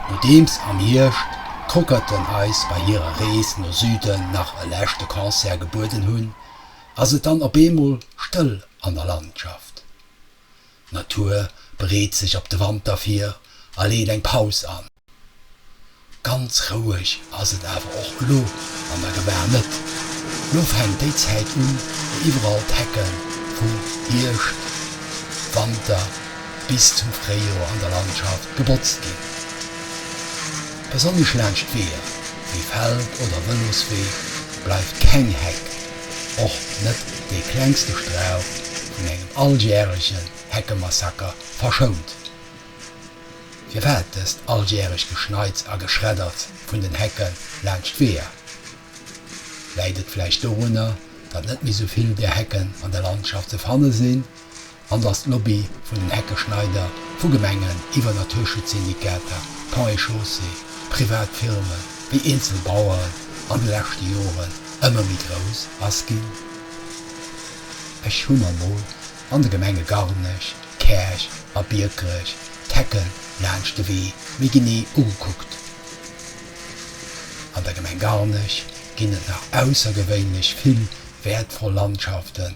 Nodeems am Hierscht d'Crockerten eis bei hirer Rees no Süden nach e leschte Concert gebueden hunn, ass et dann op eemol stëll an der Landschaft. D'Natur bereet sech op de Wanter vir a leet eng Paus an. Ganz roueg ass et awer och elo an der Gebar net. Lo fänkt déi Zäit un, wou iwwerall d'Hecke vum Hierscht, Wanter bis zum Fréijoer an der Landschaft gebotzt ginn. Besonnesch laanscht Weeër wéi Feld oder Vëloswee bleift keng Heck, och net dee klengste Strauch, vun engem alljärege Heckemassaker verschount. Firwat dëst alljäreg Geschneits a Geschreddert vun den Hecke laanscht Weeër? Läit et vläicht dorunner, datt net méi sou vill där Hecken an der Landschaft ze fanne sinn? an datt d'Lobby vun den Heckeschneider vu Gemengen iwwer Naturschutzsyndikater, Ponts et Chaussées, privat Firme wéi eenzel Baueren an de leschte Joren ëmmer méi grouss ass ginn. Ech hu mer mol an de Gemenge Garnech, Käerch a Biekerech d'Hecken laanscht de Wee méi genee ugekuckt. An der Gemeng Garnech ginn et nach aussergewéinlech vill wäertvoll Landschaften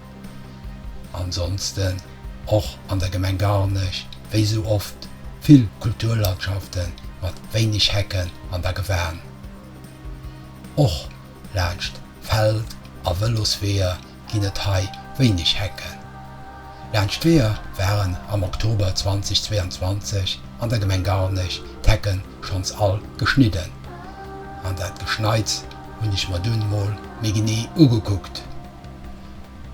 Ansonsten och an der Gemeng Garnech, wéi esou oft, vill Kulturlandschaften mat wéineg Hecken an der Gewan. Och laanscht Feld a Vëlosweeër ginn et hei wéineg Hecken. Laanscht d'Weeër waren am Oktober 2022 an der Gemeng Garnech d'Hecken schonns all geschnidden, an dat Geschneits hunn ech mer dunn mol méi genee ugekuckt.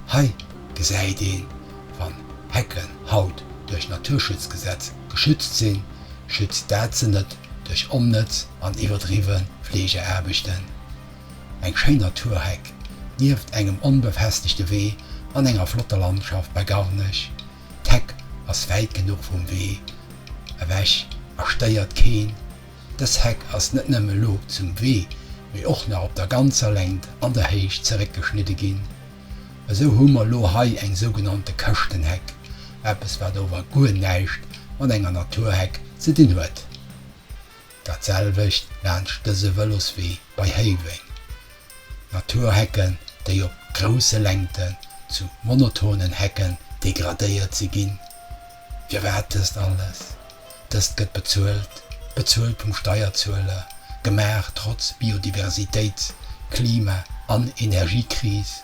Hei gesäit een, wann Hecken haut duerch Naturschutzgesetz geschützt sinn, schützt dat se net duerch onnëtz an iwwerdriwwe Fleegeaarbechten. Eng schéin Naturheck nieft engem onbefestegte Wee an enger flotter Landschaft bei Garnech. D'Heck ass wäit genuch vum Wee ewech a stéiert keen. Dës Heck ass net nëmme lo zum Wee, mee och nach op der ganzer Längt an der Héicht zeréckgeschnidde ginn. Esou hu mer lo hei eng sougenannte Këschtenheck, eppes wat ower guer näischt mat enger Naturheck ze dinn huet. Dat selwecht laanscht dëse Vëloswee bei Héiweng. Naturhecken, déi op grousse Längten zu monotonen Hecken degradéiert si ginn. Firwat dëst alles? Dëst gëtt bezuelt, bezuelt vum Steierzueler, gemaach trotz Biodiversitéits-, Klima an Energiekris.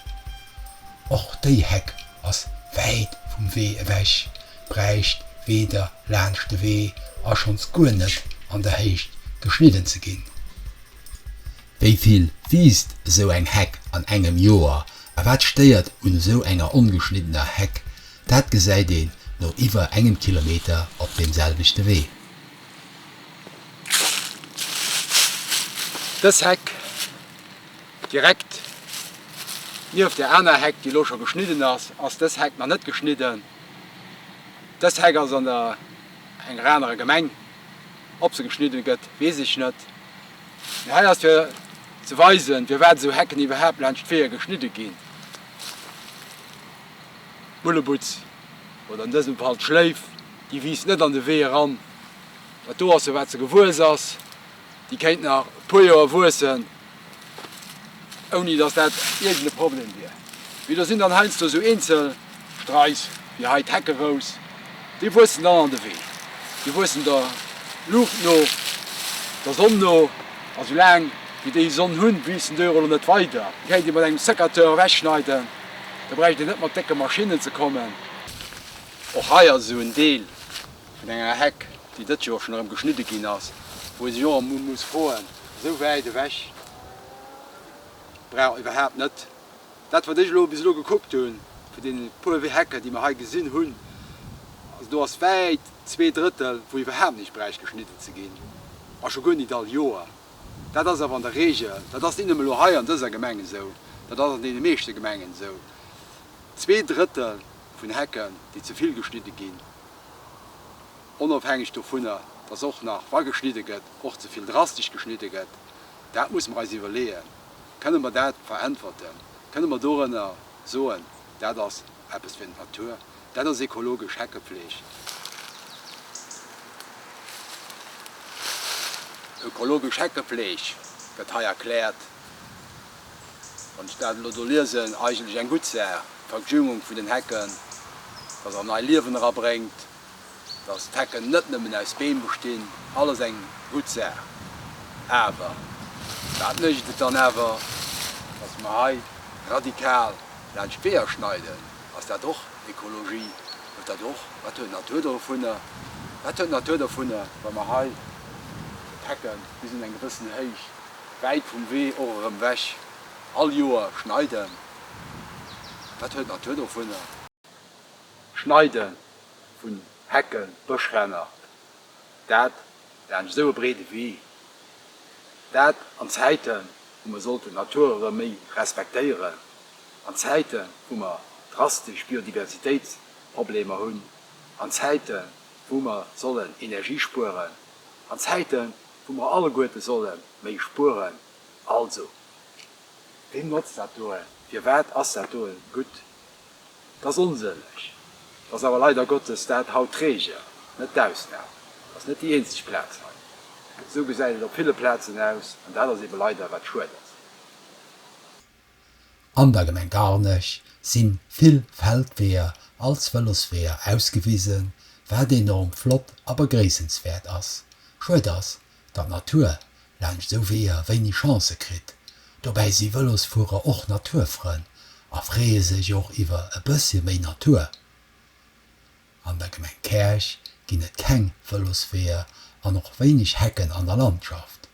Och déi Heck ass wäit vum Wee ewech, bräicht weder laanscht de Wee a schonns guer net an der Héicht geschnidden ze ginn. Wéi vill wiisst esou eng Heck an engem Joer a wat stéiert un esou enger ongeschniddener Heck? Dat gesäit een no iwwer engem Kilometer op deem selwechte Wee. Dës Heck direkt nieft där aner Heck, déi elo scho geschnidden ass, ass dës Heck nach net geschnidden. Dës Heck ass an der enger anerer Gemeng. Ob se geschnidde gëtt, weess ech net. Mee hei ass fir ze weisen, firwat esou Hecken iwwerhaapt laanscht d'Weeër geschnidde ginn. d'Bullebutz, oder an dësem Fall d'Schléif, déi wiisst net an de Wee eran. Dat do ass se, wat se gewuess ass. Déi kéint nach e puer Joer wuessen, ouni datt dat iergend e Problem wier. Mee do sinn dann heiansdo esou eenzel Streis, wéi hei d'Heckerous, déi wuessen dann an de Wee. Déi wuessen der Luucht no, der Sonn no. A soulaang wéi déi Sonn hunn, wiisst den Döro lo net weider. Déi kéint ee mat engem Sécateur ewechschneiden. Da bräicht een net mat décke Maschinnen ze kommen. Och hei ass esou en Deel vun enger Heck, déi dëst Joer schonn erëm geschnidde ginn ass, wou ee sech och emol muss froen, esou wäit ewech brauch iwwerhaapt net. Dat wat ech elo bis elo gekuckt hunn, vun deene puer Hecken, déi mer hei gesinn hunn, also do ass wäit zwee Drëttel, wou iwwerhaapt näischt bräicht geschnidde ze ginn, a scho guer nit all Joer. Dat ass awer an der Regel, dat ass net nëmme elo hei an dëser Gemeng esou, dat ass an deene meeschte Gemengen esou, zwee Drëttel vun Hecken, déi ze vill geschnidde ginn, onofhängeg dovunner, dass och nach, wa geschnidde gëtt, och ze vill drastesch geschnidde gëtt. Dat muss mer eis iwwerleeën. Kënne mer dat veräntwerten? Kënne mer dorënner soen, dat ass eppes fir d'Natur? Dat ass ekologesch Heckefleeg. Ökologesch Heckefleeg gëtt hei erkläert. Wann ech dat elo do liesen, eigentlech eng gutt Saach, d'Verjüngung vun den Hecken, dass en nei Liewen erabréngt. Dass d'Hecken net nëmmen aus Beem bestinn, alles eng gutt Saach. Awer wat mécht et dann awer, dass mer hei radikal laanscht d'Weeër schneiden? Ass dat och Ekologie? Huet dat och, wat huet d'Natur dovunner, wat huet d'Natur dovunner, wa mer hei d'Hecken bis un eng gewëssen Héicht, wäit vum Wee och erëm ewech, all Joer schneiden? Wat huet d'Natur dovunner? Schneide vun Hecken, Bëschränner, dat laanscht esou e breede Wee, dat an Zäiten, wou mer sollten d'Natur erëm méi respektéieren, an Zäiten, wou mer drastesch Biodiversitéitsproblemer hunn, an Zäiten, wou mer sollen Energie spueren, an Zäiten, wou mer alleguerte solle méi spueren. Also, weem notzt dat doe? Firwat ass dat doe gutt? Et ass onsënneg, et ass awer leider Gottes dat haut d'Regel, net d'Ausnam. Et ass net déi eenzeg Plaz hei. Esou gesäit et op ville Plazen aus, an dat ass eebe leider, wat schued ass. An der Gemeng Garnech si vill Feldweeër als Vëlosweeër ausgewisen, wat enorm flott a begréissenswäert ass. Schued ass, der Natur laanscht sou Weeër wéini Chance kritt. Dobäi si Vëlosfuerer och Naturfrënn a freeë sech och iwwer e bëssche méi Natur. An der Gemeng Käerch ginn et keng Vëlosweeër an och wéineg Hecken an der Landschaft.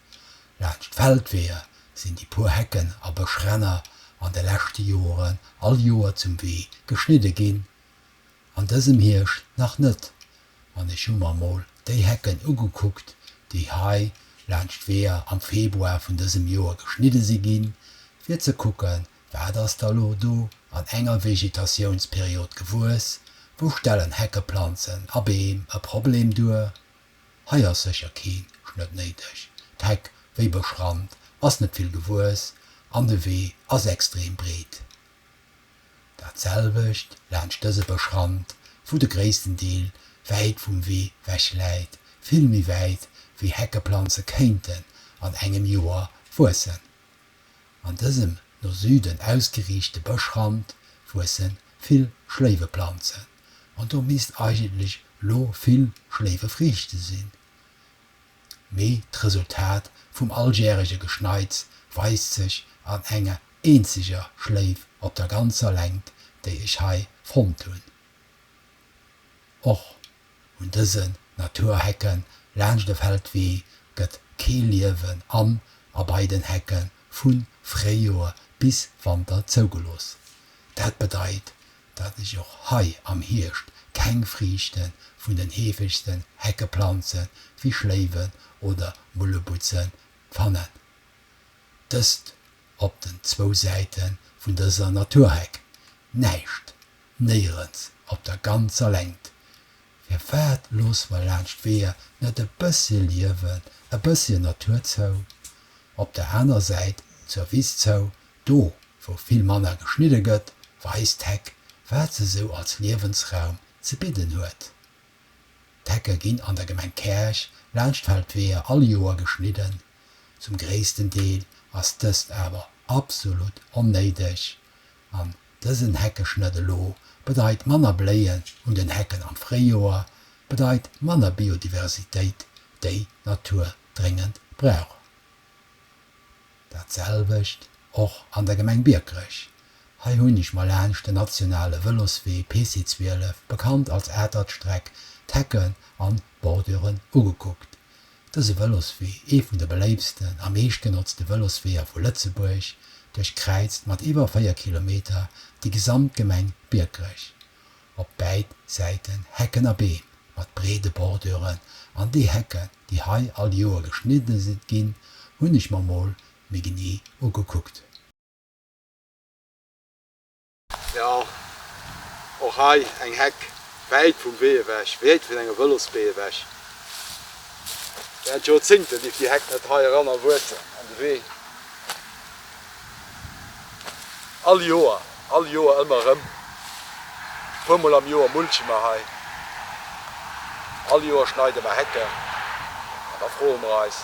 Laanscht d'Feldweeër sinn déi puer Hecken a Bëschränner an de leschte Joren all Joer zum Wee geschnidde ginn. An dësem Hierscht nach net, an ech hu mer mol déi Hecken ugekuckt, déi hei laanscht d'Weeër am Februar vun dësem Joer geschnidde si ginn, fir ze kucke wat ass da lo do an enger Vegetatiounsperiod gewuess, wou stellen Heckeplanzen a Beem e Problem duer? Hei ass sécher kee Schnëtt néideg, d'Heck, wéi beschrannt, ass net vill gewuess an de Wee ass extrem breet. Dat selwecht laanscht dëse Bëschrand, wou de gréissten Deel wäit vum Wee wech läit, vill méi wäit wéi Heckeplanze kéinten an engem Joer wuessen. An dësem no Süden ausgeriichte Bëschrand wuesse vill Schléiweplanzen an do misst eigentlech lo vill Schléiwefriichte sinn. mee d'Resultat vum alljährege Geschneits weist sech an enger eenzeger Schléif op der ganzer Längt, déi ech hei fonnt hunn. Och un dësen Naturhecken laanscht de Feldwee gëtt kee Liewen an a bei den Hecken vu Fréijoer bis Wanter zougelooss. Dat bedeit, datt ech och hei am Hierscht keng Friichte vun den heefegste Heckeplanze wéi Schléiwen oder Mullebutzen fannen. Dëst op den zwou Säite vun dëser Naturheck, näischt, néierens op der ganzer Längt. Firwat loosse mer laanscht Weeër net e bëssche Liewen, e bësschen Natur zou? Op der aner Säit zur Wiss zou Do wou vill manner geschnidde gëtt, weist d'Heck, wat se sou als Liewensraum ze bidden huet. D'Hecke ginn an der Gemeng Käerch laanscht d'Feldweeër all Joer geschnidden. Zum gréissten Deel ass dëst awer absolut onnéideg an dësen Heckeschnëtt elo bedeit manner Bléien un den Hecken am Fréijoer, bedeit manner Biodiversitéit, déi d'Natur dréngend brauch. Dat selwecht och an der Gemeng Biekerech. Hei hunn ech mer laanscht den nationale Vëloswee PC 12, bekannt als Atert-Streck, d'Hecken an d'Borduren ugekuckt. Dëse Vëloswee, ee vun de beléiftsten a meeschtgenotzte Vëlosweeër vu Lëtzebuerg, duerchkräizt mat iwwer 4 Kilometer déi gesamt Gemeng Biekerech. op bäid Säiten Hecken a Beem mat breede Borduren, an déi Hecken, déi hei all Joer geschnidde ginn, hunn ech mer mol méi genee ugekuckt. Jo, och hei eng Heck, wäit vum Wee ewech, wäit vun enger Vëlosbee ewech. Während Joerzéngte dierf déi Heck net hei eran a wuessen an de Wee. All Joer, all Joer ëmmer erëm. Puer mol am Joer mulche mer hei. All Joer schneide mer Hecken. An da froe mer eis,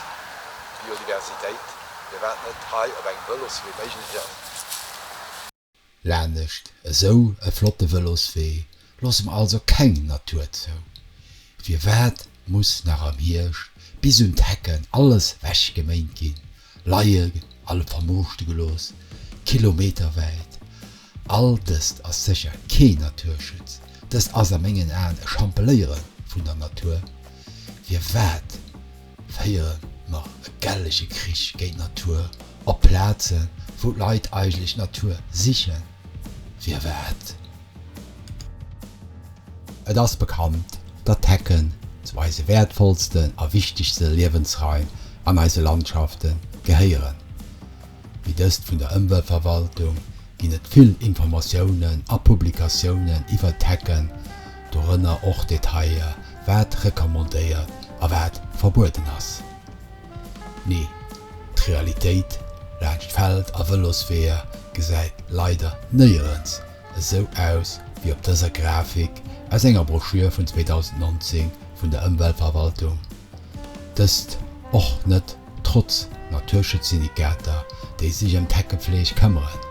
Biodiversitéit, firwat net hei op engem Vëloswee méiglech ass? Laanescht esou e flotte Vëloswee loosse mer also keng Natur zou. Firwat muss nach am Hierscht bis un d'Hecken alles wechgeméint ginn, leie a vermooschte gelooss kilometerwäit? All dëst ass sécher kee Naturschutz, dëst ass a mengen Aen e Champeléiere vun der Natur. Firwat? Féiere mer e gellege Krich géint d'Natur op Plaze wou d'Leit eigentlech d'Natur sichen? Firwat? Et ass bekannt, datt d'Hecken zu eise wäertvollsten a wichtegste Liewensraim an eise Landschafte gehéieren. wéi dëst vun der Ëmweltverwaltung ginn et vill Informatiounen a Publikatiounen iwwert d'Hecken, dorënner och Detailler, wat recommandéiert a wat verbueden ass. Mee d'Realitéit laanscht Feld a Vëlosweeër gesäit leider néierens esou aus wéi op dëser Grafik aus enger Broschür vun 2019 vun der Ëmweltverwaltung, dëst och net Trotz Naturschutzsyndikater, déi sech ëm d'Heckepfleeg këmmeren,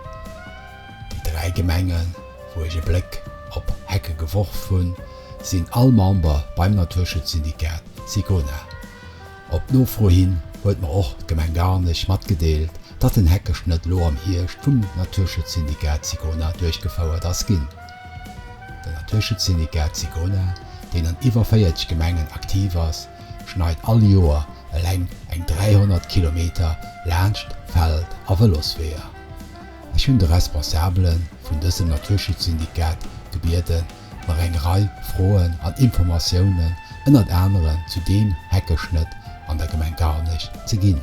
déi dräi Gemengen, wou ech e Bléck op Hecke geworf hunn, sinn all Member beim Naturschutzsyndikat Sicona. Op Nofro hin huet mer och d'Gemeng Garnech matgedeelt, datt den Heckeschnëtt elo am Hierscht vum Naturschutzsyndikat Sicona duerchgefouert ass ginn. Den Naturschutzsyndicat Sigona, deen an iwwer 40 Gemengen aktiv ass, schneit all Joer eleng eng 300 Kilometer laanscht Feld a Vëlosweeër. Ech hunn de Responsabele vun dësem Naturschutzsyndicat gebieden, mer eng Rei Froen an Informatiounen ënnert anerem zu deem Heckeschnëtt an der Gemeng Garnech ze ginn.